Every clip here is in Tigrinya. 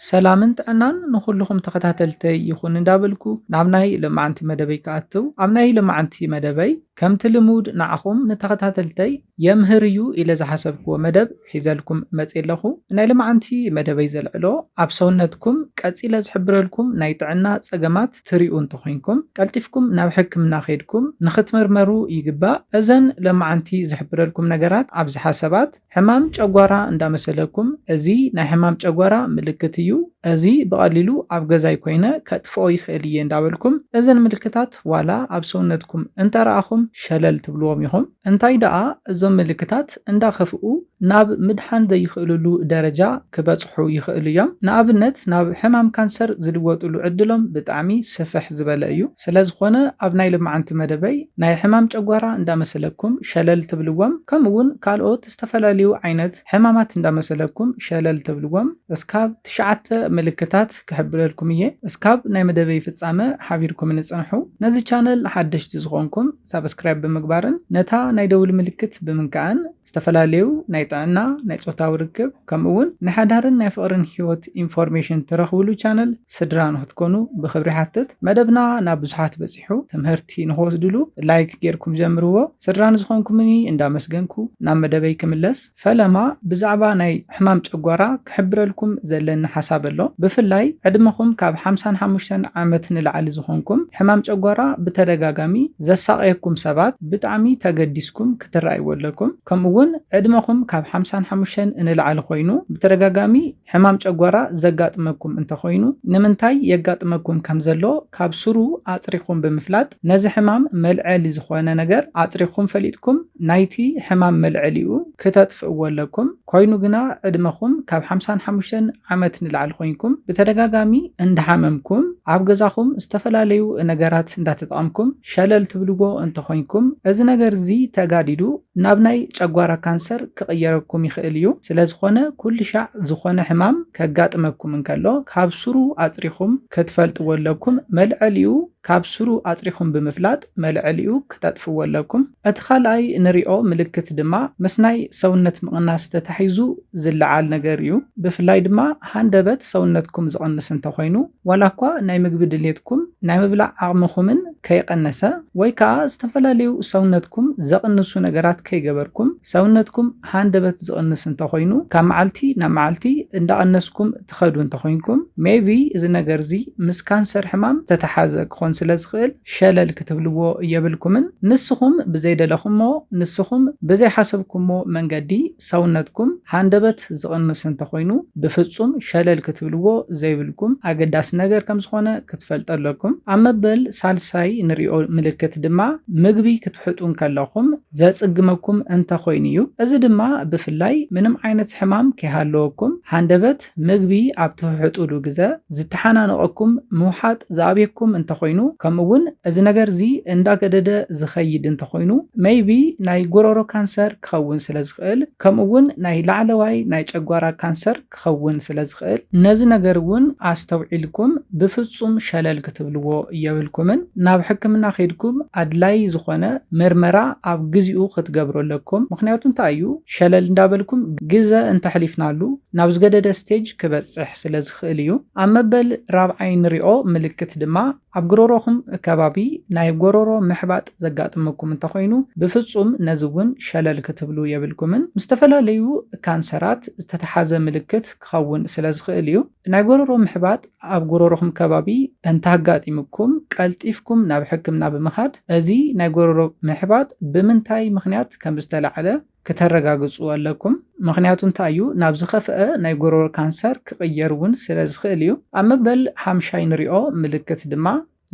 ሰላምን ጥዕናን ንኹልኹም ተኸታተልተይ ይኹን እንዳበልኩ ናብ ናይ ልማዓንቲ መደበይ ክኣትው ኣብ ናይ ልማዓንቲ መደበይ ከምቲ ልሙድ ንዓኹም ንተኸታተልተይ የምህር እዩ ኢለ ዝሓሰብክዎ መደብ ሒዘልኩም መፅየ ኣለኹ ናይ ልማዓንቲ መደበይ ዘልዕሎ ኣብ ሰውነትኩም ቀፂለ ዝሕብረልኩም ናይ ጥዕና ፀገማት ትሪኡ እንተኾይንኩም ቀልጢፍኩም ናብ ሕክምና ኬድኩም ንኽትምርመሩ ይግባእ እዘን ለማዓንቲ ዝሕብረልኩም ነገራት ኣብዝሓ ሰባት ሕማም ጨጓራ እንዳመሰለኩም እዚ ናይ ሕማም ጨጓራ ምልክት እዩ እዚ ብቀሊሉ ኣብ ገዛይ ኮይነ ከጥፍኦ ይክእል እየ እንዳበልኩም እዘን ምልክታት ዋላ ኣብ ሰውነትኩም እንተረኣኹም ሸለል ትብልዎም ኢኹም እንታይ ደኣ እዞም ምልክታት እንዳከፍኡ ናብ ምድሓን ዘይክእልሉ ደረጃ ክበጽሑ ይክእሉ እዮም ንኣብነት ናብ ሕማም ካንሰር ዝልወጥሉ ዕድሎም ብጣዕሚ ስፍሕ ዝበለ እዩ። ስለዝኾነ ኣብ ናይ ልማዓንቲ መደበይ ናይ ሕማም ጨጓራ እንዳመሰለኩም ሸለል ትብልዎም ከምኡ ውን ካልኦት ዝተፈላለዩ ዓይነት ሕማማት እንዳመሰለኩም ሸለል ትብልዎም እስካብ ትሽዓተ ምልክታት ክሕብረልኩም እየ እስካብ ናይ መደበይ ፍፃመ ሓቢርኩምኒ ፅንሑ ነዚ ቻነል ሓደሽቲ ዝኾንኩም ሳብስክራይብ ብምግባርን ነታ ናይ ደውል ምልክት ብምንካእን ዝተፈላለዩ ናይ ጥዕና ናይ ፆታዊ ርክብ ከምኡ ውን ናይ ሓዳርን ናይ ፍቕርን ሂወት ኢንፎርሜሽን ትረኽብሉ ቻነል ስድራ ንክትኮኑ ብኽብሪ ይሓትት መደብና ናብ ብዙሓት በፂሑ ትምህርቲ ንክወስድሉ ላይክ ጌርኩም ጀምርዎ ስድራ ንዝኾንኩምኒ እንዳመስገንኩ ናብ መደበይ ክምለስ ፈለማ ብዛዕባ ናይ ሕማም ጨጓራ ክሕብረልኩም ዘለኒ ሓሳብ ኣሎ ብፍላይ ዕድመኹም ካብ ሓምሳን ሓሙሽተን ዓመት ንላዕሊ ዝኾንኩም ሕማም ጨጓራ ብተደጋጋሚ ዘሳቕየኩም ሰባት ብጣዕሚ ተገዲስኩም ክትረኣይዎ ኣለኩም ከምኡውን ዕድመኹም ካብ ሓምሳን ሓሙሽተን ንላዕሊ ኮይኑ ብተደጋጋሚ ሕማም ጨጓራ ዘጋጥመኩም እንተኾይኑ ንምንታይ የጋጥመኩም ከምዘሎ ካብ ሱሩ ኣፅሪኹም ብምፍላጥ ነዚ ሕማም መልዐሊ ዝኾነ ነገር ኣፅሪኹም ፈሊጥኩም ናይቲ ሕማም መልዐሊኡ ክተጥፍእዎ ኣለኩም ኮይኑ ግና ዕድመኹም ካብ ሓምሳን ሓሙሽተን ዓመት ንላዕሊ ኮይንኩም ብተደጋጋሚ እንዳሓመምኩም ኣብ ገዛኹም ዝተፈላለዩ ነገራት እንዳተጠቐምኩም ሸለል ትብልዎ እንተኾይንኩም እዚ ነገር እዚ ተጋዲዱ ናብ ናይ ጨጓራ ካንሰር ክቕየረኩም ይኽእል እዩ። ስለዝኾነ ኩልሻዕ ዝኾነ ሕማም ከጋጥመኩም እንከሎ ካብ ሱሩ ኣጽሪኹም ክትፈልጥዎ ኣለኩም መልዐሊኡ ካብ ሱሩ ኣጽሪኹም ብምፍላጥ መልዐሊኡ ክተጥፍዎ ኣለኩም። እቲ ካልኣይ ንሪኦ ምልክት ድማ ምስናይ ሰውነት ምቕናስ ተታሒዙ፣ ዝለዓል ነገር እዩ። ብፍላይ ድማ ሃንደበት ሰውነትኩም ዝቕንስ እንተኾይኑ፣ ዋላ እኳ ናይ ምግቢ ድሌትኩም፣ ናይ ምብላዕ ዓቕምኹምን ከይቐነሰ፣ ወይ ከኣ ዝተፈላለዩ ሰውነትኩም ዘቕንሱ ነገራት ከይገበርኩም፣ ሰውነትኩም ሃንደበት ዝቕንስ እንተኾይኑ፣ ካብ መዓልቲ ናብ መዓልቲ እንዳቐነስኩም ትኸዱ እንተኾይንኩም፣ maybe እዚ ነገር'ዚ ምስ ካንሰር ሕማም ዝተተሓዘ ክኾን ስለ ዝኽእል ሸለል ክትብልዎ የብልኩምን። ንስኹም ብዘይደለኹሞ፣ ንስኹም ብዘይሓሰብኩሞ መንገዲ፣ ሰውነትኩም ሃንደበት ዝቕንስ እንተኾይኑ ብፍጹም ሸለል ክትብልዎ ዘይብልኩም ኣገዳሲ ነገር ከም ዝኾነ ክትፈልጡ ኣለኩም። ኣብ መበል ሳልሳይ ንሪኦ ምልክት ድማ ምግቢ ክትሕጡ እንከለኹም ዘጽግመኩም እንተኾይኑ እዩ። እዚ ድማ ብፍላይ ምንም ዓይነት ሕማም ከይሃለወኩም ሃንደበት ምግቢ ኣብ ትህሕጡሉ ግዘ ዝተሓናነቐኩም ምውሓጥ ዝኣብየኩም እንተኾይኑ ከምኡ ውን እዚ ነገር እዚ እንዳገደደ ዝኸይድ እንተኾይኑ maybe ናይ ጉሮሮ ካንሰር ክኸውን ስለዝኽእል ከምኡ ውን ናይ ላዕለዋይ ናይ ጨጓራ ካንሰር ክኸውን ስለዝኽእል ነዚ ነገር ውን ኣስተውዒልኩም ብፍፁም ሸለል ክትብልዎ የብልኩምን ናብ ሕክምና ከይድኩም ኣድላይ ዝኾነ ምርመራ ኣብ ግዚኡ ክትገብሩ ኣለኩም ምኽንያቱ እንታይ እዩ ሸለል እንዳበልኩም ግዘ እንተሕሊፍናሉ ናብ ዝገደደ ስቴጅ ክበጽሕ ስለዝኽእል እዩ። ኣብ መበል ራብዓይ ንሪኦ ምልክት ድማ ኣብ ጉሮሮኹም ከባቢ ናይ ጎሮሮ ምሕባጥ ዘጋጥመኩም እንተኾይኑ ብፍጹም ነዚ እውን ሸለል ክትብሉ የብልኩምን። ምስ ዝተፈላለዩ ካንሰራት ዝተተሓዘ ምልክት ክኸውን ስለዝኽእል እዩ። ናይ ጎሮሮ ምሕባጥ ኣብ ጉሮሮኹም ከባቢ እንተኣጋጢሙኩም ቀልጢፍኩም ናብ ሕክምና ብምኻድ እዚ ናይ ጎሮሮ ምሕባጥ ብምንታይ ምኽንያት ከምዝተላዕለ፣ ክተረጋግጹ ኣለኩም ምኽንያቱ እንታይ እዩ ናብ ዝኸፍኣ ናይ ጎሮሮ ካንሰር ክቕየር ውን ስለ ዝኽእል እዩ ኣብ መበል ሓምሻይ ንሪኦ ምልክት ድማ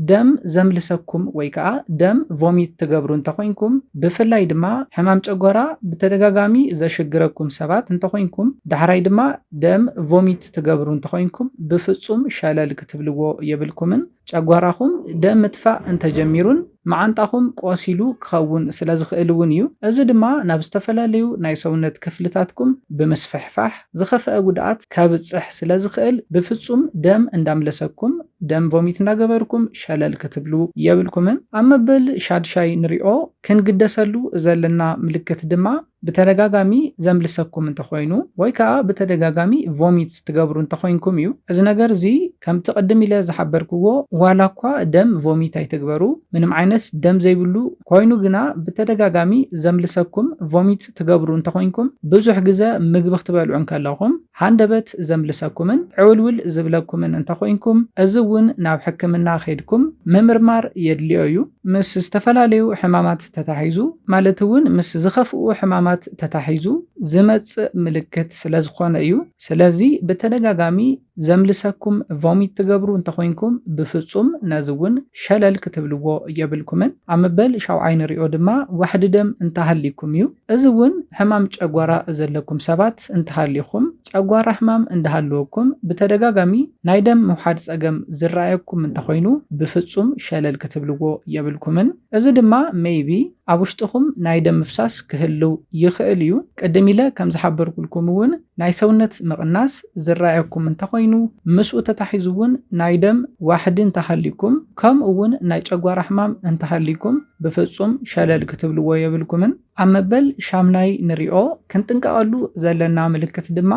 ደም ዘምልሰኩም ወይ ከኣ ደም ቮሚት ትገብሩ እንተኾይንኩም ብፍላይ ድማ ሕማም ጨጎራ ብተደጋጋሚ ዘሽግረኩም ሰባት እንተኾይንኩም ዳሕራይ ድማ ደም ቮሚት ትገብሩ እንተኾይንኩም ብፍጹም ሸለል ክትብልዎ የብልኩምን ጨጓራኹም ደም ምትፋእ እንተጀሚሩን መዓንጣኹም ቆሲሉ ክኸውን ስለዝኽእል እውን እዩ። እዚ ድማ ናብ ዝተፈላለዩ ናይ ሰውነት ክፍልታትኩም ብምስፍሕፋሕ ዝኸፈኣ ጉድኣት ከብፅሕ ስለዝኽእል ብፍፁም ደም እንዳምለሰኩም ደም ቮሚት እንዳገበርኩም ሸለል ክትብሉ የብልኩምን። ኣብ መበል ሻድሻይ ንሪኦ ክንግደሰሉ ዘለና ምልክት ድማ ብተደጋጋሚ ዘምልሰኩም እንተኾይኑ ወይ ከኣ ብተደጋጋሚ ቮሚት ትገብሩ እንተኾይንኩም እዩ። እዚ ነገር እዚ ከምቲ ቅድም ኢለ ዝሓበርክዎ ዋላ እኳ ደም ቮሚት ኣይትግበሩ ምንም ዓይነት ደም ዘይብሉ ኮይኑ ግና ብተደጋጋሚ ዘምልሰኩም ቮሚት ትገብሩ እንተኾይንኩም ብዙሕ ግዘ ምግቢ ክትበልዑ እንከለኹም ሃንደበት ዘምልሰኩምን ዕውልውል ዝብለኩምን እንተኾይንኩም፣ እዚ እውን ናብ ሕክምና ከይድኩም ምምርማር የድልዮ እዩ። ምስ ዝተፈላለዩ ሕማማት ተታሒዙ ማለት እውን ምስ ዝኸፍኡ ሕማማት ተታሒዙ ዝመፅእ ምልክት ስለዝኾነ እዩ። ስለዚ ብተደጋጋሚ ዘምልሰኩም፣ ቮሚት፣ ትገብሩ እንተኾይንኩም ብፍፁም ነዚ እውን ሸለል ክትብልዎ የብልኩምን። ኣብ መበል ሻውዓይ ንሪኦ ድማ ዋሕዲ ደም እንተሃልዩኩም እዩ። እዚ እውን ሕማም ጨጓራ ዘለኩም ሰባት እንተሃሊኹም፣ ጨጓራ ሕማም እንዳሃለወኩም ብተደጋጋሚ ናይ ደም ምውሓድ ፀገም ዝረኣየኩም እንተኾይኑ ብፍፁም ሸለል ክትብልዎ የብልኩምን። እዚ ድማ maybe ኣብ ውሽጥኹም ናይ ደም ምፍሳስ ክህልው ይኽእል እዩ። ቅድም ኢለ ከምዝሓበርኩልኩም እውን ናይ ሰውነት ምቕናስ ዝረኣየኩም እንተኾይኑ፣ ምስኡ ተታሒዙ እውን ናይ ደም ዋሕዲ እንተሃልዩኩም፣ ከምኡ እውን ናይ ጨጓራ ሕማም እንተሃልዩኩም ብፍጹም ሸለል ክትብልዎ የብልኩምን። ኣብ መበል ሻምናይ ንሪኦ ክንጥንቀቐሉ ዘለና ምልክት ድማ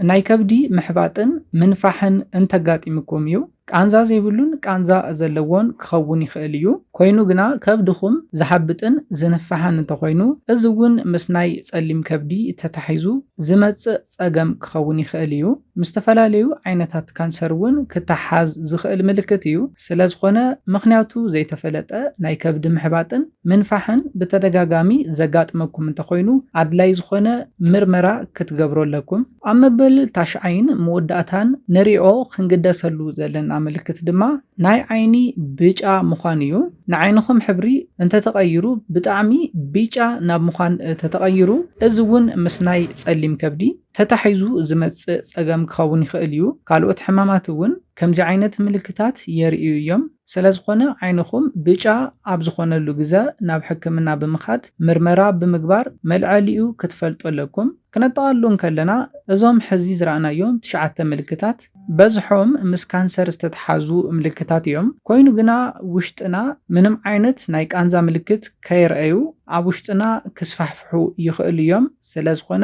ናይ ከብዲ ምሕባጥን ምንፋሕን እንተጋጢምኩም እዩ። ቃንዛ ዘይብሉን ቃንዛ ዘለዎን ክኸውን ይኽእል እዩ፣ ኮይኑ ግና ከብድኹም ዝሓብጥን ዝንፋሕን እንተኾይኑ እዚ እውን ምስ ናይ ፀሊም ከብዲ ተታሒዙ ዝመፅእ ፀገም ክኸውን ይኽእል እዩ። ምስ ዝተፈላለዩ ዓይነታት ካንሰር እውን ክተሓሓዝ ዝኽእል ምልክት እዩ። ስለዝኾነ ምኽንያቱ ዘይተፈለጠ ናይ ከብዲ ምሕባጥን ምንፋሕን ብተደጋጋሚ ዘጋጥመኩም እንተኾይኑ ኣድላይ ዝኾነ ምርመራ ክትገብሩ ኣለኩም። ኣብ መበል ታሽዓይን መወዳእታን ንሪኦ ክንግደሰሉ ዘለና ምልክት ድማ ናይ ዓይኒ ብጫ ምዃን እዩ። ንዓይንኹም ሕብሪ እንተተቐይሩ ብጣዕሚ ቢጫ ናብ ምዃን ተተቐይሩ እዚ እውን ምስ ናይ ፀሊም ከብዲ ተታሒዙ ዝመፅእ ፀገም ክኸውን ይኽእል እዩ። ካልኦት ሕማማት እውን ከምዚ ዓይነት ምልክታት የርእዩ እዮም። ስለዝኾነ ዓይንኹም ብጫ ኣብ ዝኾነሉ ግዘ ናብ ሕክምና ብምኻድ ምርመራ ብምግባር መልዐሊኡ ክትፈልጡ ኣለኩም። ክነጠቓሉ እንከለና እዞም ሕዚ ዝረኣናዮም ትሽዓተ ምልክታት በዝሖም ምስ ካንሰር ዝተትሓዙ ምልክታት እዮም። ኮይኑ ግና ውሽጥና ምንም ዓይነት ናይ ቃንዛ ምልክት ከየርኣዩ ኣብ ውሽጥና ክስፋሕፍሑ ይኽእሉ እዮም። ስለዝኾነ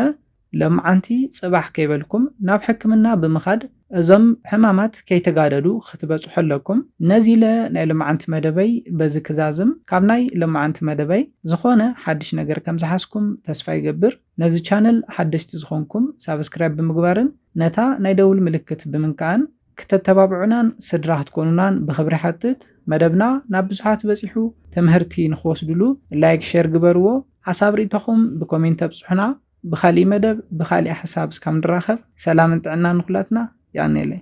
ሎምዓንቲ ጽባሕ ከይበልኩም ናብ ሕክምና ብምኻድ እዞም ሕማማት ከይተጋደዱ ክትበጽሑ ኣለኩም። ነዚለ ናይ ሎምዓንቲ መደበይ በዚ ክዛዝም። ካብ ናይ ሎምዓንቲ መደበይ ዝኾነ ሓድሽ ነገር ከምዝሓዝኩም ተስፋ ይገብር። ነዚ ቻነል ሓደሽቲ ዝኾንኩም ሳብስክራይብ ብምግባርን ነታ ናይ ደውል ምልክት ብምንካእን ክተተባብዑናን ስድራ ክትኮኑናን ብኽብሪ ይሓትት። መደብና ናብ ብዙሓት በጺሑ ትምህርቲ ንኽወስድሉ ላይክ ሼር ግበርዎ። ሓሳብ ሪኢቶኹም ብኮሜንት ኣብጽሑና። ብካሊእ መደብ ብካሊእ ሓሳብ እስካብ ንራከብ ሰላምን ጥዕናን ንኩላትና የቀንየለይ።